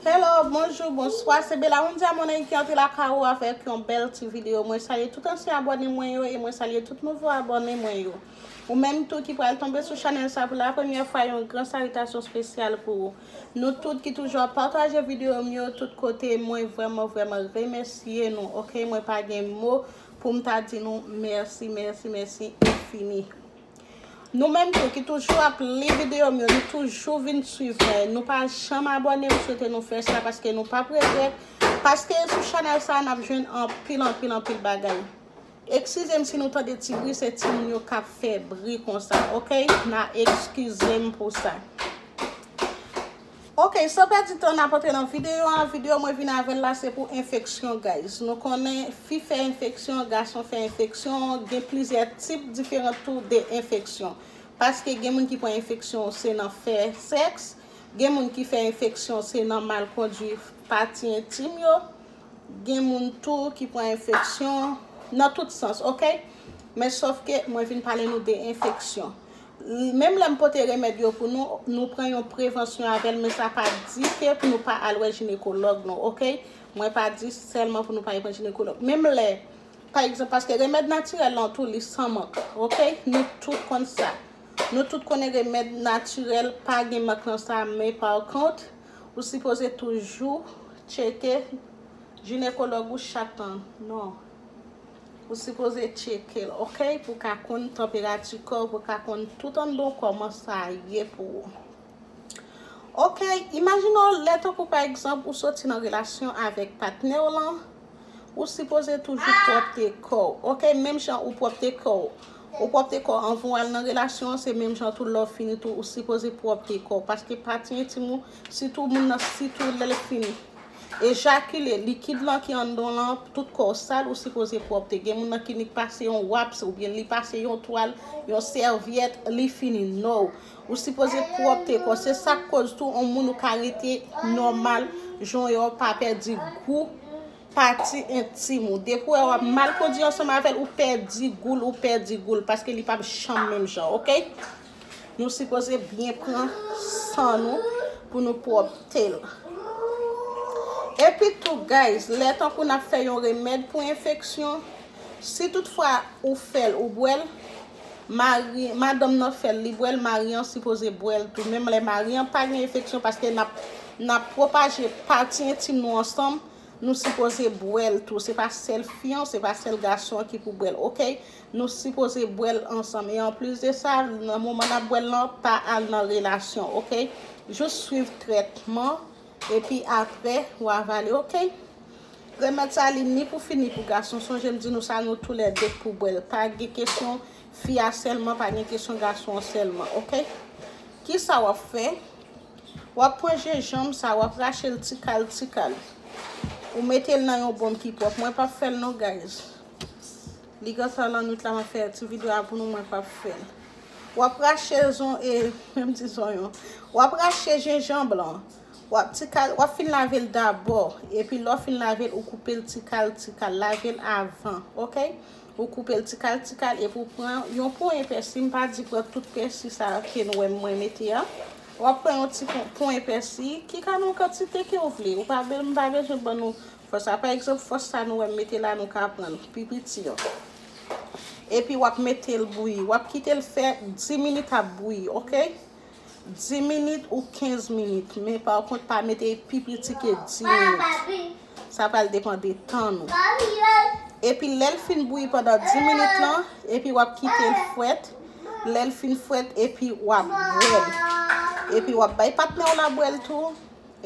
Hello, bonjou, bonswa, se Belaundia Money ki antre lakay ou avèk yon bèl ti videyo. Mwen salye tout ansyen abòne mwen yo e mwen salye tout nouvo abòne mwen yo. Ou menm tou ki pral tonbe sou chanèl sa pou lapremyè fwa yon gran salitasyon spesyal pou ou. Nou tout ki toujou ap pataje videyo m yo tout kote mwen vrèman vrèman remèsye nou ok mwen pa gen mo poum ta di nou mèsi mèsi mèsi enfini. Nou menm tou ki toujou ap li video m yo nou toujou vin swiv mwen nou pa janm abone m swete nou fè sa paske nou pap regrèt paske sou chanèl sa nap jwenn anpil anpil anpil bagay eksizem si nou tande ti bri se ti moun yo kap fè bri konsa ok na ekizem pou sa. Ok san pèdi tan nap antre nan video an, video mwen vin avèl la se pou enfeksyon guys nou konnen fi fè enfeksyon gason fè enfeksyon gen plizyè tip diferan tou de enfeksyon paske gen moun ki pran enfeksyon se nan fè sèks gen moun ki fè enfeksyon se nan mal kondwi pati entim yo gen moun tou ki pran enfeksyon nan tout sans ok men sòfke mwen vin pale nou de enfeksyon Menm lè m pote remèd yo pou nou, nou pran yon prevansyon avè l men sa pa di ke pou nou pa al wè jinekològ nou ok. Mwen pa di sèlman pou nou pa al wè jinekològ. Menm lè, pa egzanp, paske remèd natirèl lan tou li san mank ok. Nou tout konn sa. Nou tout konnen remèd natirèl pa gen mank nan sa men pa kont, ou sipoze toujou tcheke jinekològ ou chak tan. Non. Ou sipoze tchekel ok pou ka konn tanperati kòw pou ka konn tout anndanw kòman sa ye pou ou ok imajine w lè tankou pa egzanp ou soti nan relasyon avèk patnèw lan ou sipoze toujou pwòpte kòw ok menm jan ou pwòpte kòw ou pwòpte kòw anvan w al nan relasyon an se menm jan tou lèw fini tou ou sipoze pwòpte kòw paske pati entim ou sitou moun nan sitou lèl fini. Ejakile, likid lan ki anndan w lan, tout kò w sal, ou sipoze pwòpte. Gen moun nan klinik pase yon waps oubyen li pase yon twal, yon sèvyèt, li fini non. Ou sipoze pwòpte kò w. Se sa k koz tou on moun ou ka rete nòmal jan w ye a, w pa pèdi gou pati entim ou. Depi w wè w ap mal kondi ansanm avè l, ou pèdi gou l, ou pèdi gou l paske li pap janm menm jan, ok. Nou sipoze byen pran san nou pou nou pwòpte l. Epitou guys, lè tankou n ap fè yon remèd pou enfeksyon, si tout fwa ou fè l ou bwè l, mari, madanm nan fè l li bwè l, mari an sipoze bwè l tou menm lè mari an pa gen enfeksyon paske n ap n ap pwopaje pati entim nou ansanm, nou sipoze bwè l tou, se pa sèl fi an, se pa sèl gason an ki pou bwè l ok. Nou sipoze bwèl ansanm e anplis de sa nan moman nap bwèl lan pa al nan relasyon ok jus swiv trètman epi aprè ou avale ok remèd sa li ni pou fi ni pou gason sonje m di nou sa nou tou lè 2 k pou bwèl pa gen kesyon fi a sèlman pa gen kesyon gason an sèlman ok kisa wap fè wap pran jenjanm sa wap rache l ti kal ti kal ou mete l nan yon bonm ki pwòp mwen pap fèl non guys. Li gen sa lan nwit la map fè ti video a pou nou mwen pap fè. Wap rache zon e menm di zonyon. Wap rache jenjanb lan. Wap ti kal wap fin lavel dabò epi lè w fin lavel ou koupel ti kal ti kal lavel avan ok ou koupel ti kal ti kal epi ou pran yon ponyen pèsi m pa di pran tout pèsi sa ke nou wèm mwen mete a wap pran yon ti ponyen pèsi ki ka nan kantite ke ou vle ou pa m pa bezwen ban nou Fòs a, pa egzanp, fòs sa nou wè m mete la nou ka pran pi piti an. Epi w ap mete l bouyi. W ap kite l fè 10 minit ap bouyi ok. 10 minit ou 15 minit. Men pa kont pa mete pi piti ke 10 minit. Sa pral depan de tan nou. Epi lè l fin bouyi pandan 10 minit lan, epi w ap kite l fwèt. Lè l fin fwèt epi w ap bwè l. Epi w ap bay patnè w la bwè l tou.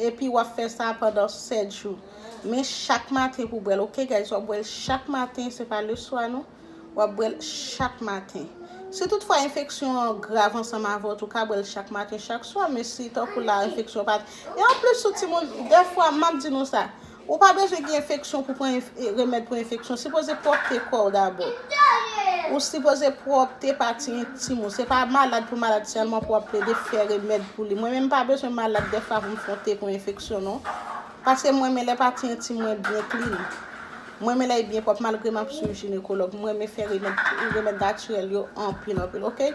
Epi wap fè sa pandan 7 jou. Men chak maten pou bwèl ok guys wap bwèl chak maten se pa le swa non wap bwèl chak maten si tout fwa enfeksyon an grav ansanm avè w tou ka bwèl chak maten chak swa men si tankou la enfeksyon pat e anplis sou timoun dèfwa map di nou sa Ou pa bezwen gen enfeksyon pou pran remèd pou enfeksyon. Sipoze pwòpte kò ou dabò. Ou sipoze pwòpte pati entim ou. Se pa malad pou malad sèlman pou ap plede fè remèd pou li. Mwen menm pa bezwen malad defwa pou m fon te pou enfeksyon non. Paske mwen men lè pati entim mwen byen klin. Mwen men lè y byen pwòp malgre m ap swiv jinekològ. Mwen men fè remèd natirèl yo anpil anpil ok.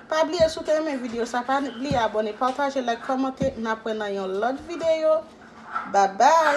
Pa bliye si w te renmen video sa pa bliye abone pataje like komante nap wè nan yon lot video babay.